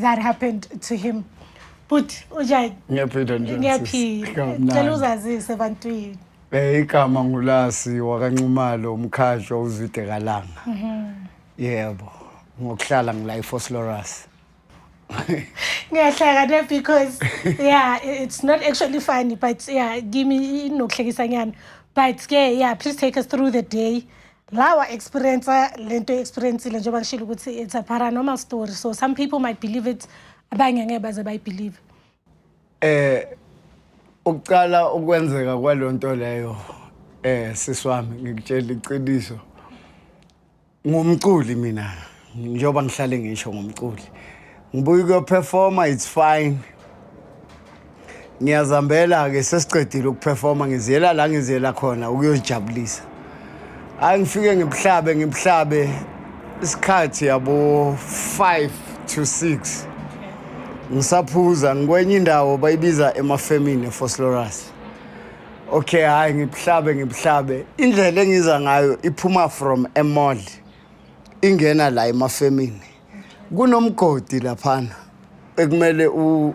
that happened to him but uja ngiyaphila nje ngiyaphila Kamnandi. cela uzazise ebantwini Eh igama ngulasi wakanxumalo umkhajo uzwide kalanga. Yebo. Ngokuhlala ngila eFoslorus. ngiyahlakana because yeah i- it's not actually funny but yeah kimi inokuhlekisa nyana but ke yeah please take us through the day la wa experience le nto experiencile njengoba ngishilo ukuthi it's a paranormal story so some people might believe it abanye ngeke baze bayibelieve eh ukuqala ukwenzeka kwalonto leyo eh siswami ngikutshela iqiniso ngumculi mina njengoba ngihlale ngisho ngomculi ngibuye ukuyophefoma it's fine ngiyazambela-ke sesiqedile ukuphefoma ngiziyela la ngiziyela khona ukuyozijabulisa hhayi ngifike ngibuhlabe ngibuhlabe isikhathi yabo five to six ngisaphuza ngikwenye indawo bayibiza emafemini efoslorus okay hhayi ngibuhlabe ngibuhlabe indlela engiza ngayo iphuma from emall ingena la emafemini kunomgodi laphana ekumele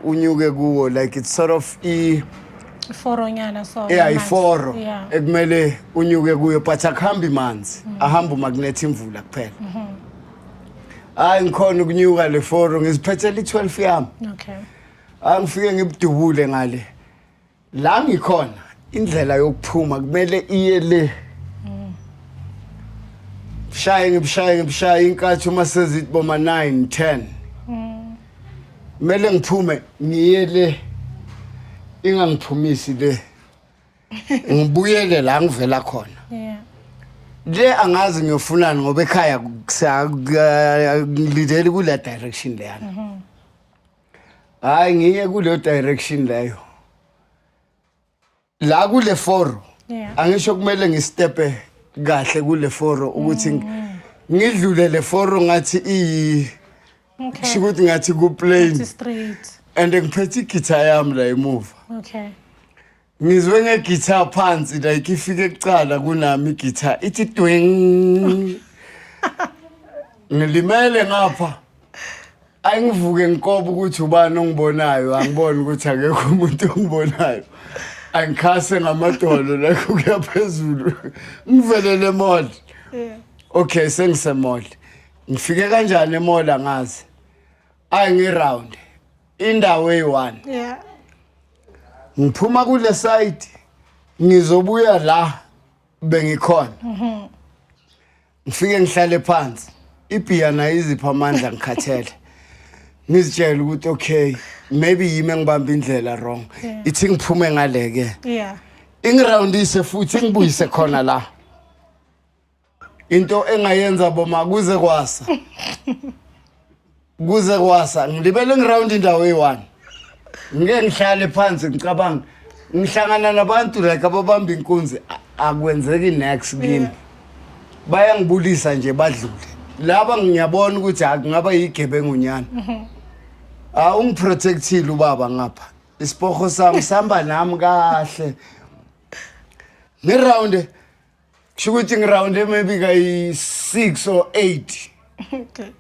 unyuke kuwo like it's sort of i iforonyana so yeah iforo ekumele unyuke kuyo but akuhambi manzi mm. ahamba uma kunetha imvula kuphela mm-hmm. hayi ngikhona ukunyuka le foro ngiziphethela i-12 yami okay angifike ngibudubule ngale la ngikhona indlela yokuphuma kumele iye le shaye ngibushaye ngibushaye inkathi uma sezithi boma 9 10 kumele ngiphume ngiye le ingangiphumisi le ngibuyele la ngivela khona yeah le angazi ngiyofunani ngoba ekhaya ngilindele kule direction leyana mm -hmm. hayi ngiye kuleyo direction leyo la kule foro Yeah. angisho kumele ngistepe kahle kule foro ukuthi ng- ngidlule le foro ngathi iyi Okay. kusho ukuthi ngathi It's kuplain straight. and ngiphethe igitha yami la emuva Okay. ngizwe ngegitha phansi like ifike kucala kunami igitha ithi twing ngilimele ngapha angivuke ngikoba ukuthi ubani ongibonayo angiboni ukuthi akekho umuntu ongibonayo angikhase ngamadolo like ukuya phezulu ngivelele emall okay sengisemall ngifike kanjani emall angazi ayi ngiround indawo eyi-one yeah. ngiphuma kule side ngizobuya la bengikhona mhm. ngifike ngihlale phansi ibhiya nayo izipha amandla ngikhathele ngizitshela ukuthi okay maybe yimi engibamba indlela wrong ithi ngiphume ngale-ke yeah. ingirawundise futhi ingibuyise khona la into engayenza boma kuze kwasa kuze kwasa ngilibele ngiround indawo eyi-one ngike ngihlale phansi ngicabanga ngihlangana nabantu like ababamba inkunzi a- akwenzeki next kimi bayangibulisa nje badlule laba ngiyabona ukuthi ha kungaba yigebengunyana ha ungiprotectile ubaba ngapha isipoho sami sihamba nami kahle ngiround kusho ukuthi ngiround maybe kayi-six or eight okay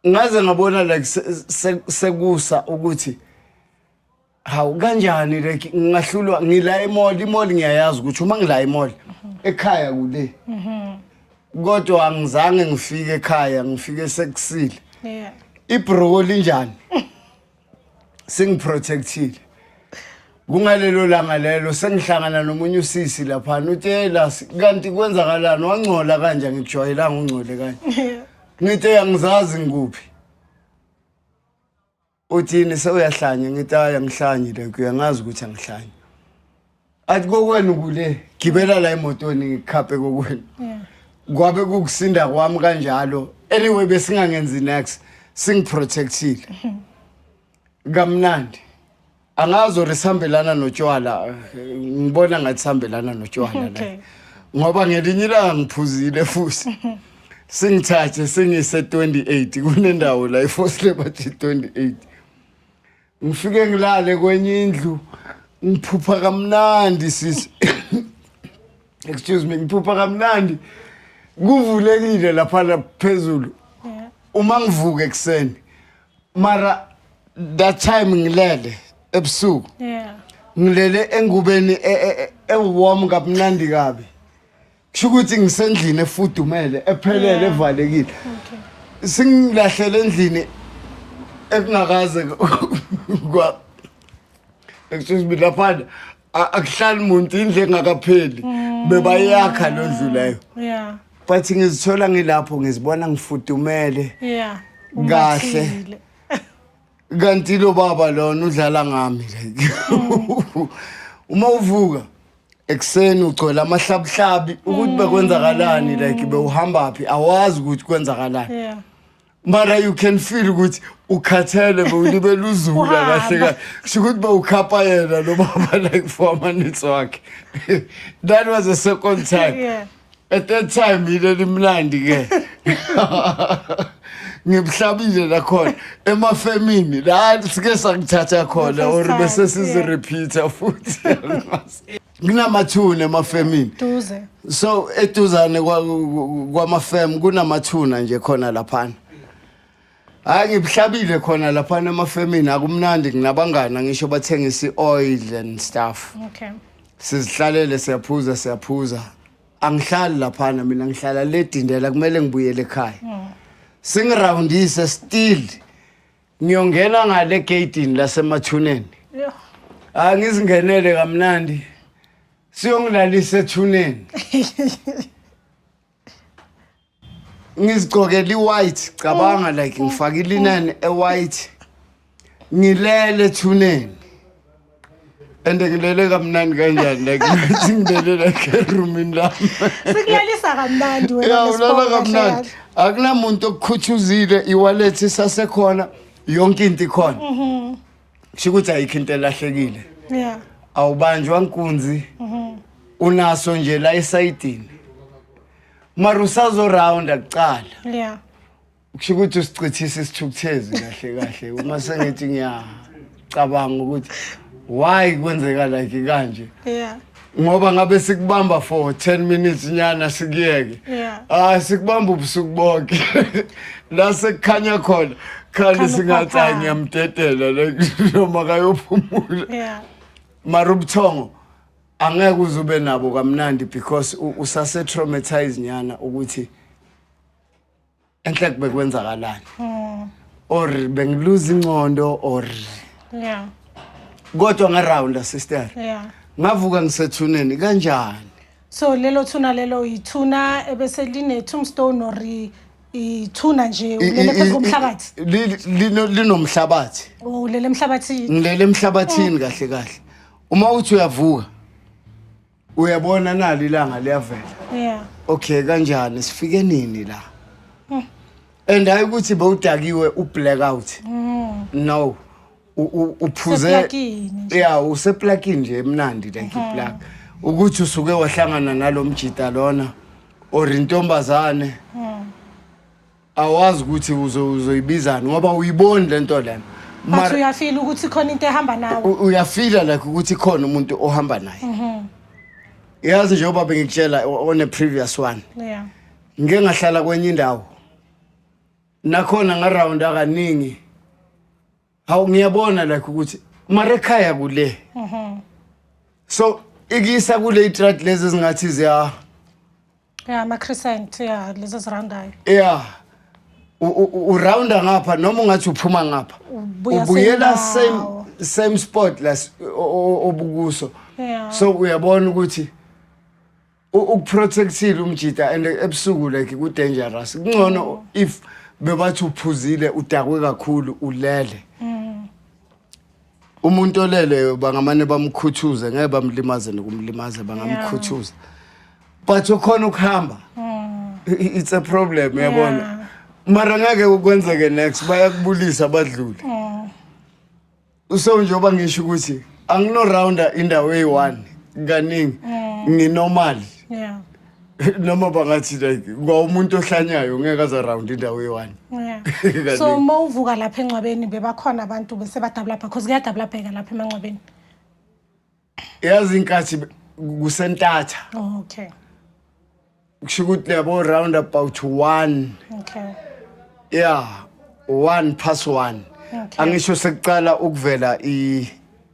ngaze ngabona like sekusa ukuthi hawu kanjani like ngingahlulwa ngila emall imall ngiyayazi ukuthi uma ngila emall mhm. ekhaya kule mhm. kodwa angizange ngifike ekhaya ngifike sekusile yeah ibrowo linjani singiprotectile kungalelo langa lelo sengihlangana nomunye usisi laphana utshela kanti kwenzakalani wangcola kanje ngikujwayelanga ungcole kanje ngithi angizazi ngikuphi uthini sewuyahlanya ngithi ayi angihlanye le kuyangazi ukuthi angihlanye athi kokwenu kule gibela la emotweni ngikhaphe kokwenu kwabe kukusinda kwami kanjalo anyway besingangenzi next singiprotectile kamnandi angazi or sihambelana notshwala eh, ngibona ngathi sihambelana notshwala la Okay. ngoba ngelinye ilanga ngiphuzile futhi singithathe singise 28 kunendawo la iForce Liberty 28 Ngifike ngilale kwenye indlu ngiphupha kamnandi sisi. Excuse me, ngiphupha kamnandi. Kuvulekile lapha la phezulu. Uma ngivuka ekseni. Mara that time ngilele ebusuku. Yeah. Ngilele engubeni e- e- e- ewarm kamnandi kabi. kusho ukuthi ngisendlini efudumele ephelele evalekile singilahlele endlini ekungakaze kwa excuse me laphana akuhlali muntu indle engakapheli mm. bebayakha lo ndlu leyo yeah but ngizithola ngilapho ngizibona ngifudumele yeah kahle kanti lo baba lona udlala ngami uma uvuka ekuseni ugcwele amahlabuhlabi ukuthi bekwenzakalani like bewuhamba phi awazi ukuthi kwenzakalani yeah mara you can feel ukuthi ukhathele bewulibela uzula kahle kahle kusho ukuthi bewukhapha yena lo baba like for amanitsi wakhe that was the second time yeah. at that time yile limnandi ke ngibuhlabile lakhona emafemini la sike sangithatha khona or bese sizirepeater futhi kunamathuna emafemini duze so eduzane kwamafem kunamathuna nje khona laphana Hayi ngibuhlabile khona lapha emafemini akumnandi nginabangana ngisho bathengisa i-oil and stuff. Okay. Sizihlalele siyaphuza siyaphuza. Angihlali lapha mina ngihlala le dindela kumele ngibuyele ekhaya. Hmm. Singiroundise still ngiyongena ngale gateini lasemathuneni. Yho. Angizingenele kamnandi. Siyongilalisa ethuneni. ngizigqokela i-white cabanga like ngifake ilineni e-white ngilele ethuneni and ngilele kamnandi kanjani like ngathi ngilele like eroomini lami sikulalisa kamnandi wena ya Miss ulala Bonga, kamnandi Shayari. akunamuntu okukhuthuzile iwallet isasekhona yonke into ikhona kusho ukuthi ayikho into elahlekile yeah awubanjwa nkunzi unaso nje la esayidini mara usazorawunda kuqala yeah kusho ukuthi usichithisa isithukuthezi kahle kahle uma sengithi ngiyacabanga ukuthi why kwenzeka like kanje yeah ngoba ngabe sikubamba for 10 minutes nyana sikuyeke yeah ah sikubamba ubusuku bonke la sekukhanya khona khali singathi ngiyamdedela like noma kayophumula yeah mara ubuthongo angeke uze ube nabo kamnandi because usase traumatize nyana ukuthi enhle kubekwenzakalani hmm. or bengiluza incondo or yeah kodwa nga round sister yeah ngavuka ngisethuneni kanjani so lelo thuna lelo yithuna ebese line tombstone or ithuna nje ulele phezu komhlabathi linomhlabathi oh, ulele emhlabathini ngilele emhlabathini oh. kahle kahle uma uthi uyavuka uyabona nalo ilanga liyavela yeah okay kanjani sifike nini la hmm. and hayi ukuthi bewudakiwe ublackout hmm. no uphuze ya useplakini nje emnandi like hmm. iplak ukuthi usuke wahlangana nalo mjita lona or intombazane awazi ukuthi uzo- uzoyibizani ngoba uyiboni le nto lena but Mara- uyafila ukuthi khona into ehamba nawe u- uyafila like ukuthi khona umuntu ohamba naye Mhm. yazi njengoba bengikutshela o- on a previous one yeah ngike ngahlala kwenye indawo nakhona ngaround akaningi hawu ngiyabona like ukuthi mara ekhaya kule Mhm. so ikisa kule itrat lezi ezingathi ziya ya ama-crescent ya lezi ezirandayo ya u- u- u- urounda ngapha noma ungathi uphuma ngapha Ubuya ubuyela same same ndawo. same spot las o- o- obukuso Yeah. so uyabona ukuthi u- ukuprotectile umjita and ebusuku like ku-dangerous kungcono if bebathi uphuzile udakwe kakhulu ulele umuntu oleleyo bangamane bamkhuthuze ngeke bamlimaze nokumlimaza bangamkhuthuza but ukhona ukuhamba hmm. it's a problem yabona mara ngeke ukwenzeke next bayakubulisa badlule hmm. so njengoba ngisho ukuthi anginorounder indawo eyi-one kaningi hmm. nginormal noma bangathi like kwawumuntu ohlanyayo ngeke aze around indawo eyi-one yeah. so uma uvuka lapha engcwabeni bebakhona abantu bese badabulabha cause kuyadabulabheka lapha emangcwabeni yazi inkathi kusentatha oh, okay kusho ukuthi leyabo round about one okay yeah one past one okay. angisho sekuqala ukuvela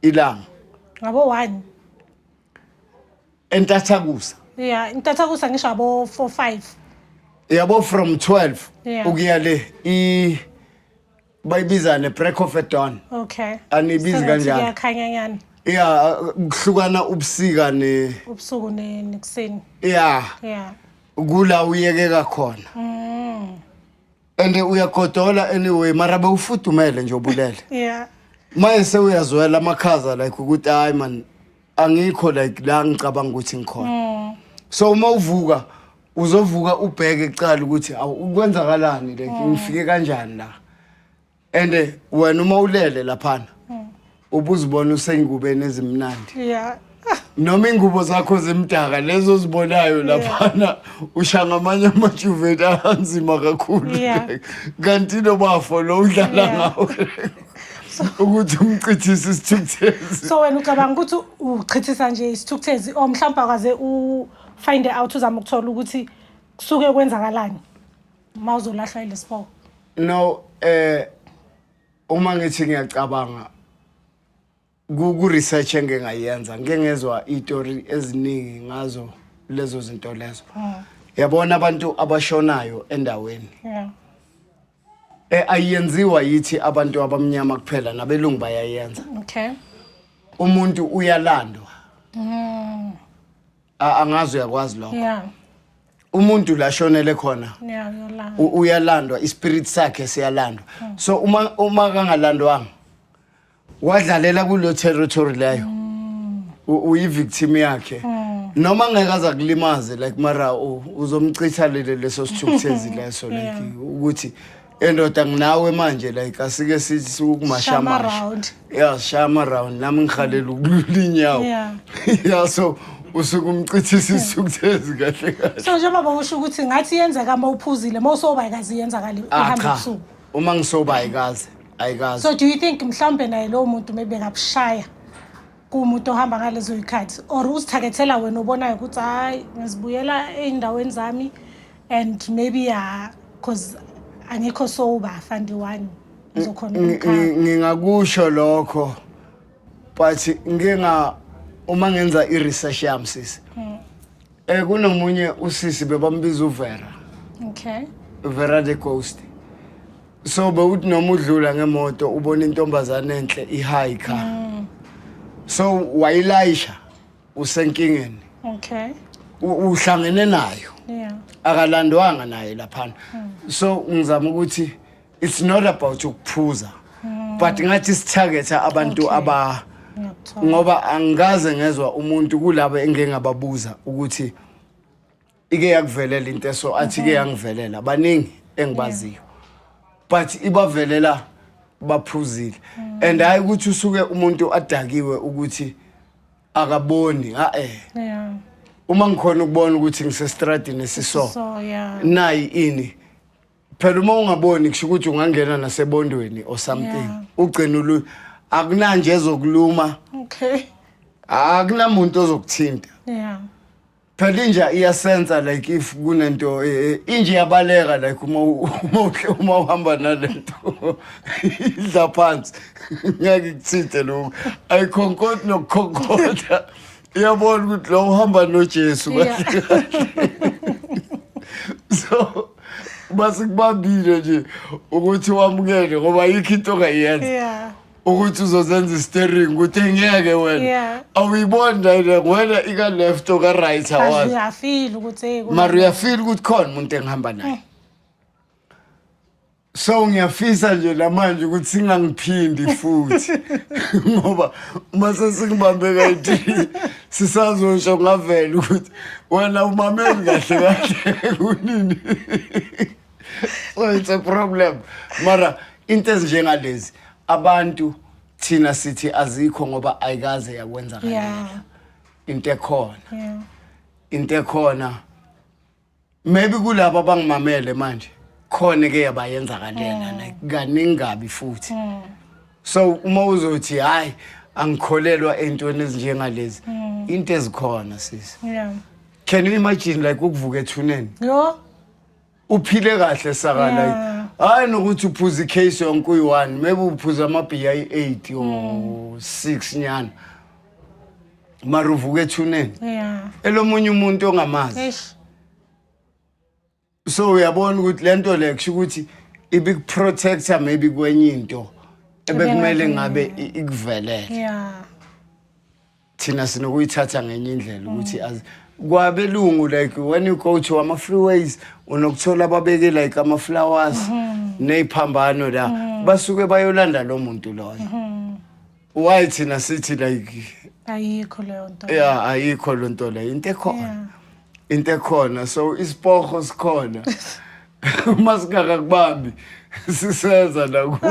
ilanga ngabo one entathakusa ya intathakusa ngisho abo 4 5 yabo from 12 Yeah. ukuya le i bayibiza ne break of a dawn okay Anibizi Sengathi kanjalo. kuyakhanyanyana ya kuhlukana ubusika ne ubusuku ne- nekuseni ya ya kula uyekeka khona and uyagodola anyway mara bewufudumele nje ubulele yeah maye sewuyazwela amakhaza like ukuthi hayi man angikho like la ngicabanga ukuthi ngikhona mm. so uma uvuka uzovuka ubheke kuqala ukuthi awu kwenzakalani like mm. ngifike kanjani la and eh, wena uma ulele laphana hmm. ubuzibona usengikubeni ezimnandi yeah noma ingubo zakho zimdaka lezo zibonayo laphana usha ngamanye amajuveti anzima kakhulu kanti nobafo lo udlala ngawo ukuthi umchithise isithukuthezi so wena ucabanga ukuthi uchithisa nje isithukuthezi or mhlawumbe akaze ufind out uzama ukuthola ukuthi kusuke kwenzakalani uma uzolahlwa ilesiboko no eh uma ngithi ngiyacabanga ku ku research engingayenza ngeke ngezwa istory eziningi ngazo lezo zinto lezo Ah, yabona abantu abashonayo endaweni yeah. eh ayenziwa yithi abantu abamnyama kuphela nabelungu bayayenza okay umuntu uyalandwa Mm, A- angazi uyakwazi lokho Yeah. umuntu la shonele khona Yeah, uyolala. u- uyalandwa ispirit sakhe siyalandwa so uma uma kangalandwanga wadlalela kulo territory leyo U- uyivictim yakhe noma ngeke aza kulimaze like mara u- uzomchitha lele leso sithukuthezi leso like ukuthi endoda nginawe manje like asike sithi sikukumashamasha ya shama round nami ngihalela ukulula inyawo ya so usuke umcithisa isuku thezi kahle kahle so njengoba usho ukuthi ngathi yenzeka uma uphuzile uma usoba ayikazi yenzakali ah, uhamba usuku uma ngisoba ayikazi ayikazi so do you think mhlawumbe naye lowo muntu maybe ngakushaya kumuntu ohamba ngalezo yikhathi or uzithakethela wena obonayo ukuthi hayi ngizibuyela ey'ndaweni zami and maybe ya because angikho soba fandi one ngizokhona umkhaya ngingakusho lokho but nginga uma ngenza i-research yami sisi Eh kunomunye usisi bebambiza uVera. Okay. Vera the Ghost. So bewuthi noma udlula ngemoto ubona intombazane enhle ihike. Mm. So wayilayisha usenkingeni. Okay. Uhlangene nayo. Yeah. Akalandwanga naye laphana. Mm. So ngizama ukuthi it's not about ukuphuza hmm. but ngathi sithagetha abantu okay. aba ngoba angikaze ngezwa umuntu kulabo engingababuza ukuthi ike yakuvelela into eso athi ike mhm. yangivelela baningi engibaziyo but ibavelela baphuzile mm. and hayi ukuthi usuke umuntu adakiwe ukuthi akaboni ha eh uma ngikhona ukubona ukuthi ngisestradini esiso nayi ini phela uma ungaboni kusho ukuthi ungangena nasebondweni or something Yeah. ugcina ulu akunanje ezokuluma okay akunamuntu ozokuthinta yeah phela inja iyasensa like if kunento eh, eh, inja iyabaleka like uma u- uma uhle- uma uhamba nalento idla phansi ngeke kuthinte lokhu ayikhonkoti nokukhonkotha uyabona ukuthi lo uhamba nojesu Yeah. so basikubambile nje ukuthi wamukele ngoba yikho into ongayenza Yeah. ukuthi uzozenza istering ukuthi ngeke wena Yeah. awuyiboni nayile wena ika-left oka-right awazi Uyafila ukuthi hey, mara uyafila ukuthi khona umuntu engihamba naye so ngiyafisa nje namanje ukuthi singangiphindi futhi ngoba uma sesingibambe kayithi sisazosho ngavela ukuthi wena umameli kahle kahle kunini so it's a problem mara into ezinjengalezi abantu thina sithi azikho ngoba ayikaze yakwenza kanjalo into ekhona into ekhona maybe kulabo abangimamele manje khona ke yabayenzakalela like kaningi kabi futhi so uma uzothi hayi angikholelwa entweni ezinjengalezi into ezikhona sisi Yeah. can you imagine like ukuvuka ethuneni Yo. uphile kahle saka Yeah. like hayi nokuthi uphuza icase yonke uyi-one maybe uphuza amabhiya ayi-eight or six nyana mara uvuka ethuneni yeah elomunye umuntu ongamazi eish so uyabona ukuthi lento le kusho ukuthi ibikuprotector maybe kwenye into ebekumele ngabe i- ikuvelele yeah thina sinokuyithatha ngenye indlela ukuthi as kwabelungu like when you go to ama freeways unokuthola babeke like ama flowers neziphambano la basuke bayolanda lo muntu loyo why thina sithi like ayikho leyo nto ya ayikho lo nto leyo into ekhona into ekhona so isipoho sikhona uma singakakubambi siseza nakuwe